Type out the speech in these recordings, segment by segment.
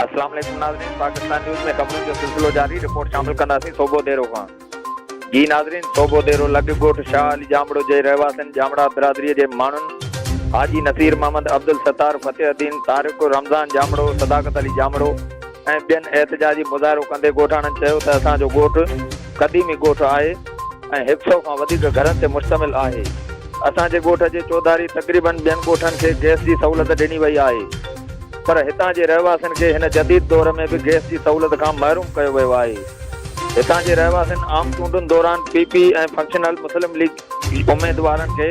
اسلام عليڪم ناظرين پاڪستان نيوز ۾ خبرن جو سلسلو جاري رپورٽ شامل ڪنداسين صوبو ديرو کان جي ناظرين صوبو ديرو لڳ ڳوٺ شاهه علي جامڙو جي رهواسين جامڙا برادري جي ماڻهن حاجي نصير محمد عبدالستار فتح الدين طارق رمضان جامڙو صداقت علي جامڙو ۽ ٻين احتجاجي مظاهرو ڪندي ڳوٺاڻن چيو ته اسان جو ڳوٺ قديمي ڳوٺ آهي ۽ هڪ سئو کان وڌيڪ گهرن تي مشتمل آهي اسان جي ڳوٺ جي چوڌاري تقريبن ٻين ڳوٺن کي گئس جي سهولت ڏني وئي آهي پر هتان جي رهواسين کي هن جديد دور ۾ به گئس جي سهولت کان محروم ڪيو ويو آهي هتان جي رهواسين عام چونڊن دوران P P ۽ functional Muslim league اميدوارن کي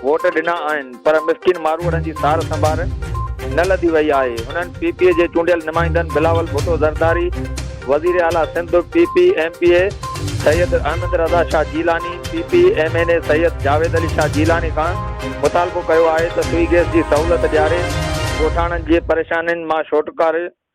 ووٽ ڏنا آهن پر مسڪين ماروئڙن جي سار سنڀار نه لڌي وئي آهي، هنن پي پي اي جي چونڊيل نمائندن بلاول ڀٽو زرداري، وزير اعليٰ Sindh, P P M P A Syed Ahmed Raza Shah Jilani, P P M N A Syed Javed Ali Shah Jilani کان مطالبو ڪيو آهي ته سوئي گيس جي سهولت ڏياري ڳوٺاڻن جي پريشانين مان ڇوٽڪاري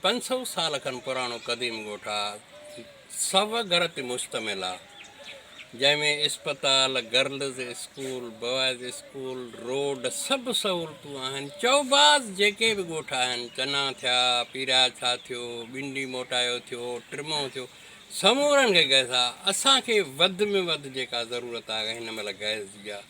پنج سؤ سال کن پراڻو قديم ڳوٺ آ، سو گهر تي مشتمل آ، جنهن ۾ اسپتال، girls school, boys school, road سڀ سهولتون آهن، چئو باز جيڪي به ڳوٺ آهن، چنا ٿيا، پيراڇا ٿيو، ٻنڊي موٽايو ٿيو، ٽرمو ٿيو، سمورن کي گئس آ، اسان کي وڌ ۾ وڌ جيڪا ضرورت آ هن مهل گئس جي آ.